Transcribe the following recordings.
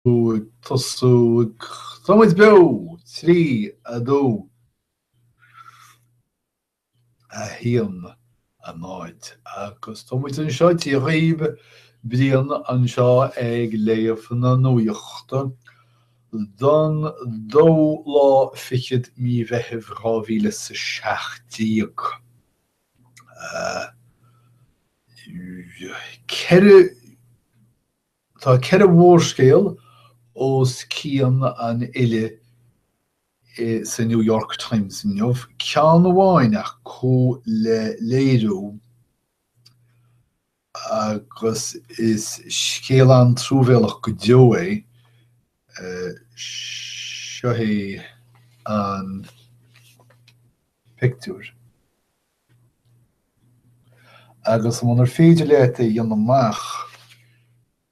ag tosú. Tá muid beo! trí, a dó, a haon, a náid agus tá muid anseo Dia dhaoibh, Brian anseo ag léamh na nuachta don dóú lá fichead mí Mheithimh dhá mhíle is a seacht déag. Ceithre. Tá ceithre mhórscéal os cionn an fhile sa New York Times inniu, ceann amháin acu le léiriú agus is scéal an-truamhéalach go deo é. Seo é an pictiúr. agus munar féidir leat é a dhéanamh amach,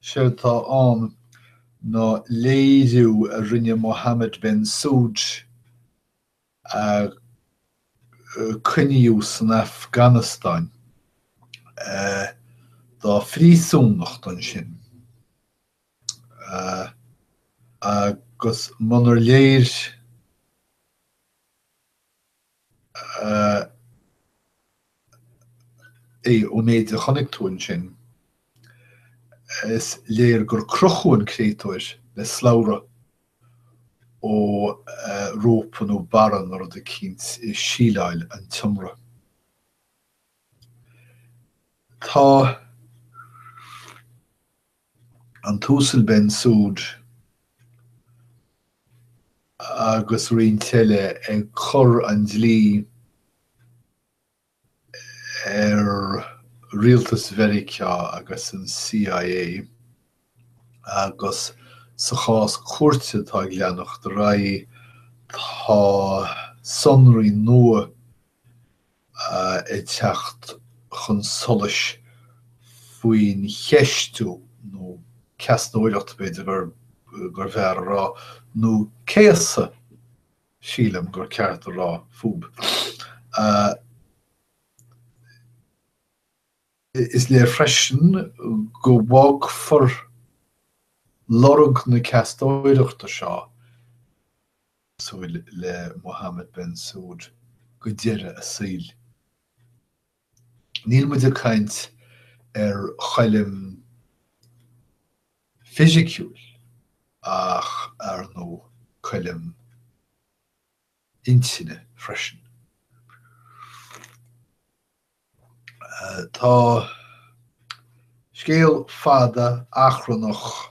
séard atá ann ná léiriú a rinne Mohammed Ben Soud a coinníodh san Afganastáin dá phríosúnacht ansin agus munar léir, ii, Ón méid a chonaic tú ansin, is léir gur crochadh an créatúr le slabhra ó rópa nó barra nó rud eicínt i síleáil an tseomra. ii, Tá. an tUasal Ben Soud agus roinnt eile ag cur an dlí ar rialtas Mheiriceá agus an CIA agus sa chás cúirte atá ag leanacht ar aghaidh tá sonraí nua ag teacht chun solais faoin cheistiú, nó ceastóireacht b'fhéidir gur bhfearr a rá, nó céasadh sílim gur ceart a rá, fúb. Is léir freisin go bhfágfar lorg na ceastóireachta seo cosúil le Mohammad Ben Soud go deireadh a saoil. Níl muid ag caint ar choilm fhisiciúla ach, ar ndóigh, coilm intinne freisin. Tá scéal fada achrannach.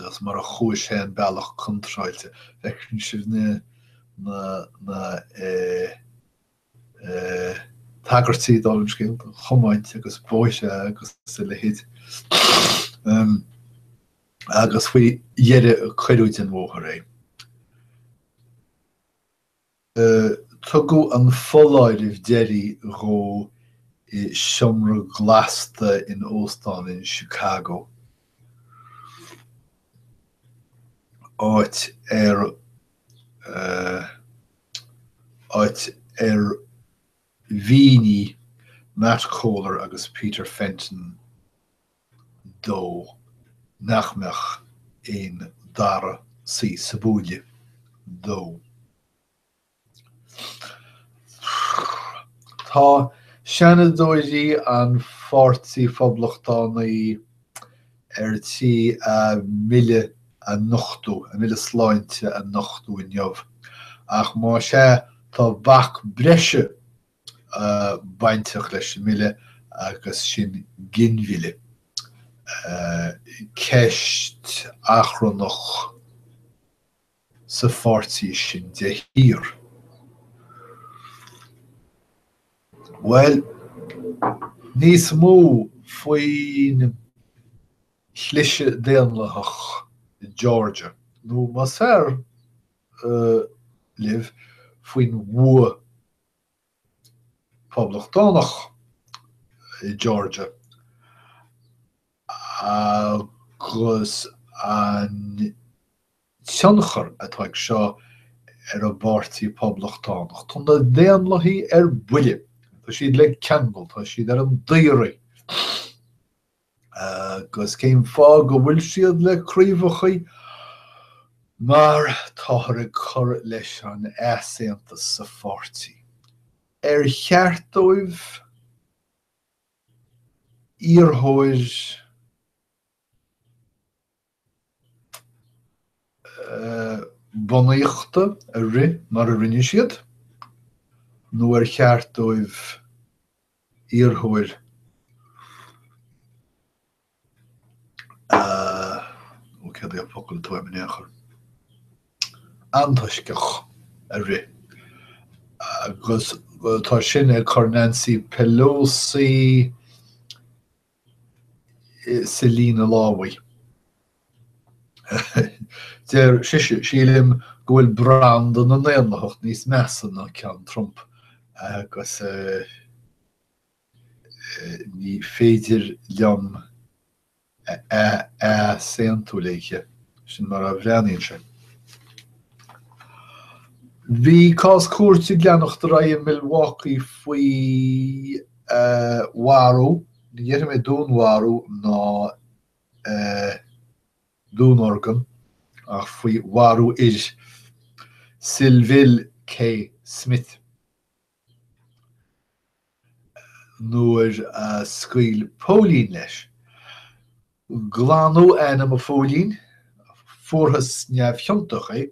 agus mar a chuaigh sé an bealach contráilte. Feiceann sibh na na tagairtí don scéal, tiomáint agus bóithre agus a leithéid. Agus faoi dheireadh cuireadh den bhóthar é. Tugadh an foláireamh deiridh dhó i seomra glasta in óstán in Chicago, áit ar áit ar mhínigh Matt Cohler agus Peter Fenton dó nach mbeadh an dara suí sa bhuaile dó. Tá Seanadóirí an Pháirtí Phoblachtánaigh ar tí a mbille a nochtadh, a mbille sláinte a nochtadh inniu, ach más ea, tá bac breise bainteach leis an mBille agus sin ginmhilleadh. Ceist achrannach sa pháirtí sin de shíor. Bhuel, níos mó faoin chliseadh Daonlathach i Georgia, nó más fearr libh, faoin bhua Poblachtánach i Georgia agus an tionchar atá ag seo ar an bPáirtí Poblachtánach. Tá na Daonlathaigh ar buile. Tá siad le ceangal. Tá siad ar an daoraí. agus cén fáth go bhfuil siad le craobhacha mar táthar ag cur leis an easaontas sa pháirtí, ar cheart dóibh iarrthóir. bunaíochta a rith mar a rinne siad nó ar cheart dóibh iarrthóir, cén focal atá mé in ann a chur, antoisceach a rith agus tá sin ag cur Nancy Pelosi sa líne lámhaigh. Deir sé, Sílim go bhfuil branda na nDaonlathach níos measa ná ceann Trump agus ní féidir liom easaontú leis, sin mar a bhreathnaíonn sé. Bhí cás cúirte ag leanacht ar aghaidh i Milwaukee faoi. a mharú, ní dhéarfaidh mé dúnmharú ná dúnorgain, ach faoi mharú Sylville K. Smith, nuair a scaoil póilín leis. Glanadh ainm an phóilín, fuarthas neamhchiontach é.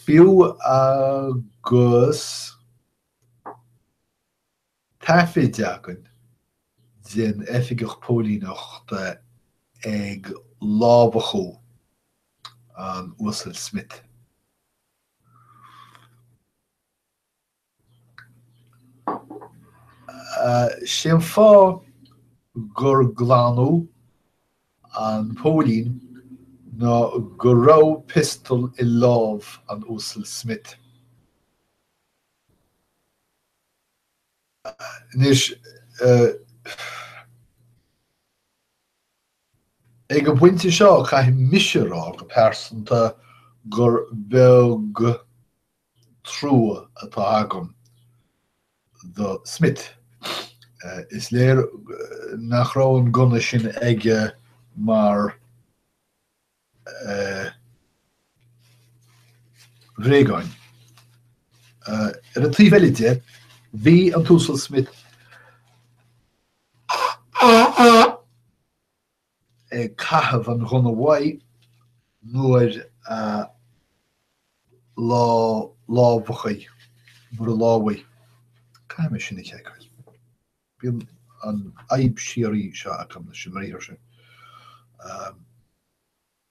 Fiú agus taifead againn den oifigeach póilíneachta ag lámhachadh an Uasail Smith, Sé an fáth gur glanadh an póilín ná go raibh piostal i lámh an Uasail Smith. Anois, ag an bpointe seo, caithfidh mise a rá go pearsanta gur beag trua atá agam do Smith. Is léir nach raibh an gunna sin aige mar bhréagán. Ar an taobh eile de, bhí an tUasal Smith ag caitheamh an ghunna uaidh nuair a lámhachadh, nuair a lámhaigh, caithfidh mé sin a sheiceáil, bíonn an fhadhb síoraí seo agam leis an mbriathar sin,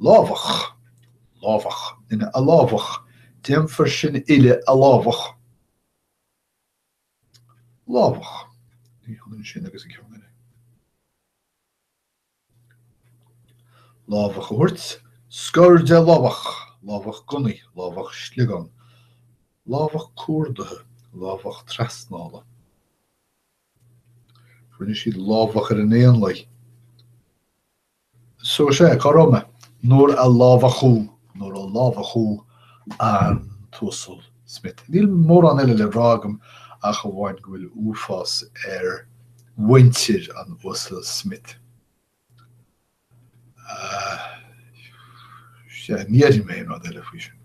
lámhach, lámhach, ina lámhach, déanfar sin uile a lámhach, lámhach, ní hionann sin agus an ceann. lámhach a thabhairt, scor de lámhach, lámhach gunnaí, lámhach sliogán, lámhach cuardaithe, lámhach trasnála, rinne siad lámhach ar an éanlaith, So sé, go raibh maith. Nuair a lámhachadh, nuair a lámhachadh an tUasal Smith. Níl mórán eile le rá agam ach amháin go bhfuil uafás ar mhuintir an Uasail Smith. Sea, ní déarfaidh mé aon rud eile faoi sin.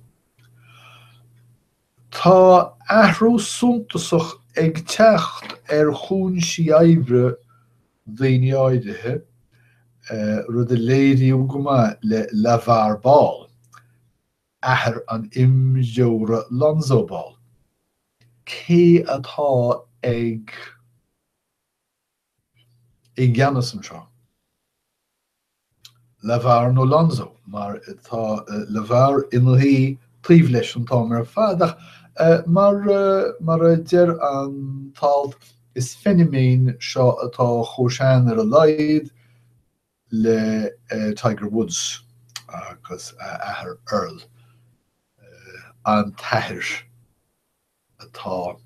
Tá athrú suntasach ag teacht ar chúinsí oibre daoine áirithe, rud a léiríodh go maith le LeVar Ball, athair an imreora Lonzo Ball. Cé atá ag. I gceannas anseo, LeVar nó Lonzo, mar tá LeVar ina shuí taobh leis an t-am ar fad ach mar mar a deir an t-alt, is feiniméan seo atá chomh sean ar a laghad le Tiger Woods agus a athair Earl, an t-athair atá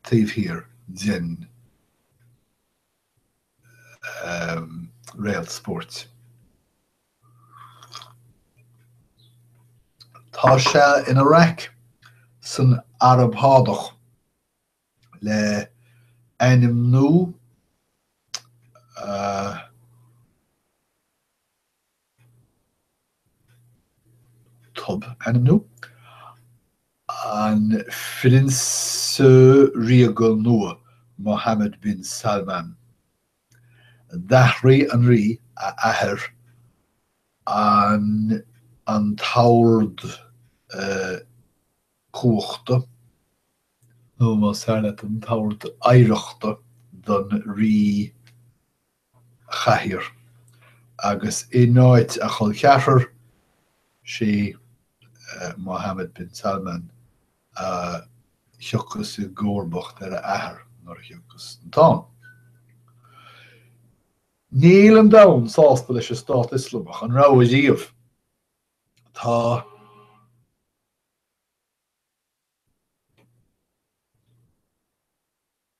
taobh thiar den réalt spóirt. Tá sé ina raic san Araib Shádach le ainmniú tob, ainmniú an Phrionsa Ríoga nua Mohammed bin Salman, d'athraigh an Rí a athair an an t-ord cumhachta, nó más fearr leat, an t-ord oidhreachta don Rí chathaoir, agus in áit a chol ceathrair, sé Mohammed bin Salman, a thiocfas i gcomharbacht ar a athair nuair a thiocfas an t-am. Níl an domhan sásta leis an Stát Ioslamach, an raibh ariamh. Tá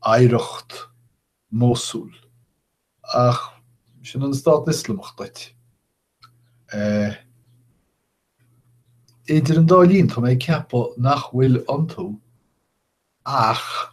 oidhreacht Mhósúil, ach sin an Stát Ioslamach duit. Eh. idir an dá linn, tá mé ag ceapadh nach bhfuil iontu ach.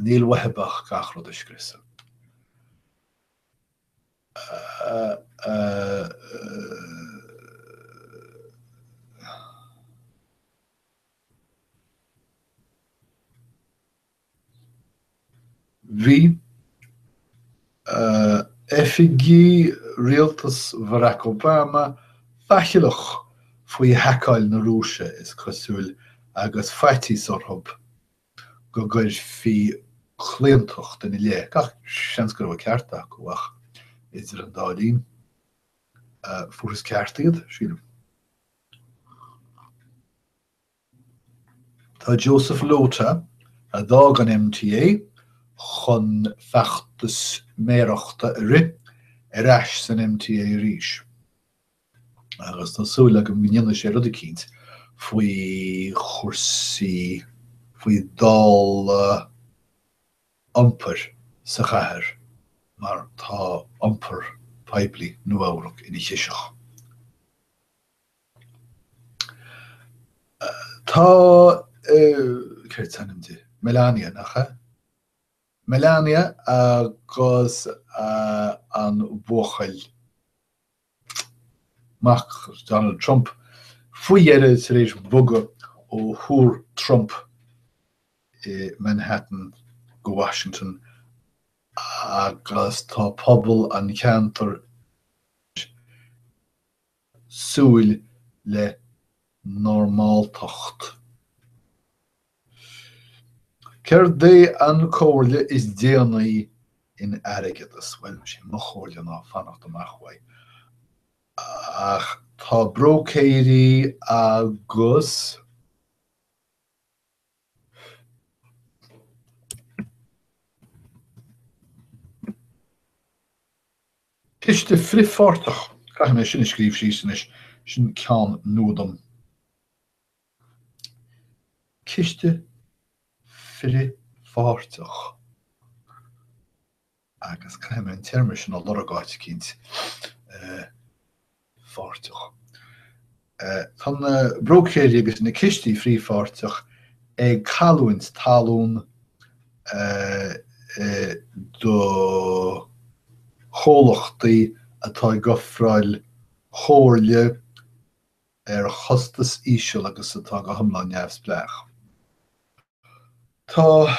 Níl uaithi ach gach rud a scriosadh. Bhí oifigí rialtas Bharack Obama faichilleach faoi haiceáil na Rúise, is cosúil, agus faitíos orthu go gcuirfí claontacht ina leith, gach seans go raibh an ceart acu, ach idir an dá linn, fuarthas an ceart acu, sílim. Tá Joseph Lhota, a d'fhág an MTA chun feachtas méarachta a rith, ar ais san MTA arís. agus tá súil agam go ndéanfaidh sé rud eicínt faoi chúrsaí, faoi dhálaí iompair sa chathair mar tá iompar poiblí Nua-Eabhrac ina chiseach. Tá, céard is ainm di? Melania, nach ea? Melania agus an buachaill. mac Donald Trump faoi dheireadh tar éis bogadh ó Thúr Trump i Manhattan go Washington agus tá pobal an cheantair ag súil le normáltacht. Céard í an chomhairle is déanaí in airgeadas? Bhuel, 'sé mo chomhairle ná fanacht amach uaidh. Ach tá bróicéirí agus ciste frithpháirteach, caithfidh mé sin a scríobh síos anois, sin ceann nua dom. Ciste frithpháirteach agus caithfidh mé an téarma sin a lorg áit eicínt, frithpháirteach. Tá na bróicéirí agus na cistí frithpháirteach ag cailliúint talún do chomhlachtaí atá ag ofráil comhairle, ar chostas íseal agus atá go hiomlán neamhspleách. Tá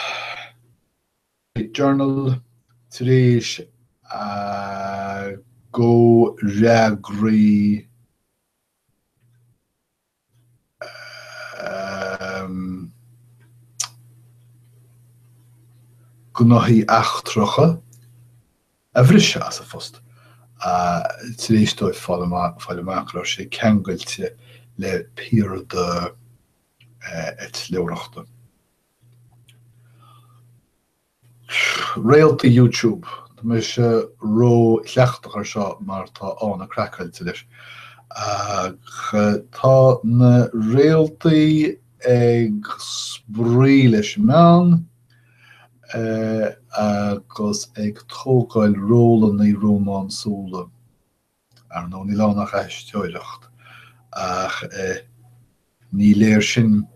The Journal tar éis a gcomhfhreagraí gnóthaí eachtracha, a bhriseadh as a phost tar éis dóibh fáil amach go raibh sé ceangailte le piarda eitleoireachta. Réaltaí YouTube, tá mise ró chleachtach air seo mar tá Áine craiceáilte leis, ach tá na réaltaí ag spraoi leis an meán. agus ag tógáil rólanna rómánsúla. Ar ndóigh, níl ann ach aisteoireacht, ach ní léir sin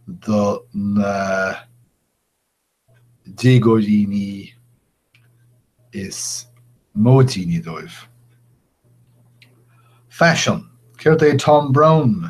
do na déagóidíní is móide dóibh. Faisean, Céard é Thom Browne?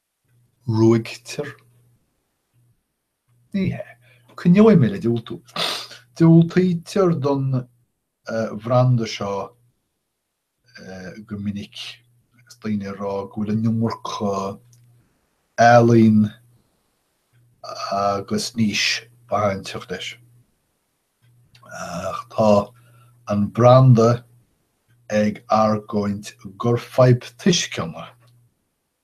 ruaigtear. Ní hea. Coinneoidh mé le diúltú. Diúltaítear don bhranda seo go minic agus daoine ag rá go bhfuil an iomarca ealaín agus niche bainteach leis. Ach tá an branda ag argóint gur fadhb tuisceana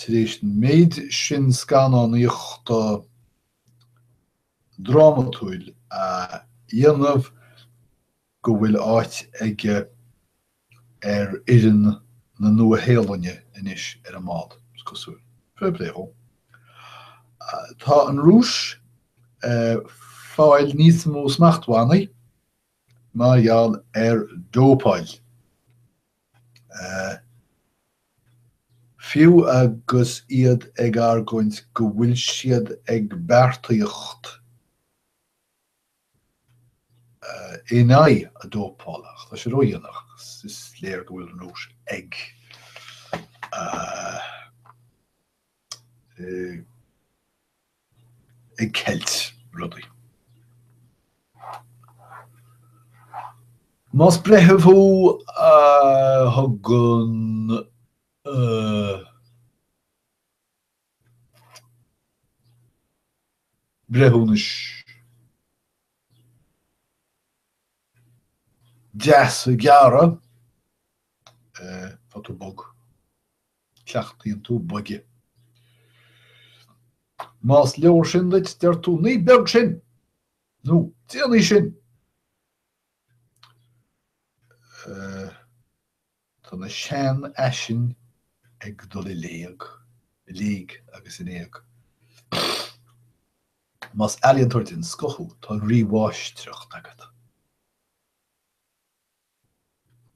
tar éis an méid sin scannánaíochta drámatúil a dhéanamh, go bhfuil áit aige ar fhoireann na Nua-Shéalainne anois ar an mbád, is cosúil. Fair play dhó. Tá an Rúis ag fáil níos mó smachtbhannaí. mar gheall ar dópáil. Fiú agus iad ag argóint go bhfuil siad ag beartaíocht in aghaidh na dópála, ach tá sé ródhéanach agus is léir go bhfuil an Rúis ag ag ceilt rudaí. Más breitheamh thú a thugann breithiúnais deasa gearra, tá tú bog. cleachtaíonn tú boige. Más leor sin duit, deir tú, 'Ní beag sin! nó 'Déanfaidh sin! Tá na seanfhaisin ag dul i léig, i léig agus in éag. Más ealaíontóir den scoth thú, tá rímháistreacht agat.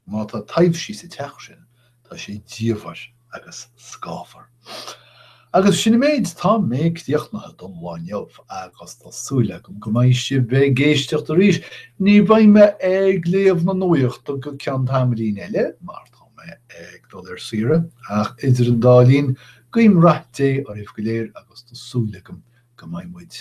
Má tá taibhsí sa teach sin, tá sé diamhair agus scáfar. Agus sin an méid, tá mé críochnaithe don lá inniu agus tá súil agam go mbeidh sibh ag éisteacht arís. Ní bheidh mé ag léamh na nuachta go ceann tamaillín eile mar tá mé ag dul ar saoire ach idir an dá linn, guím rath Dé oraibh go léir agus tá súil agam go mbeidh muid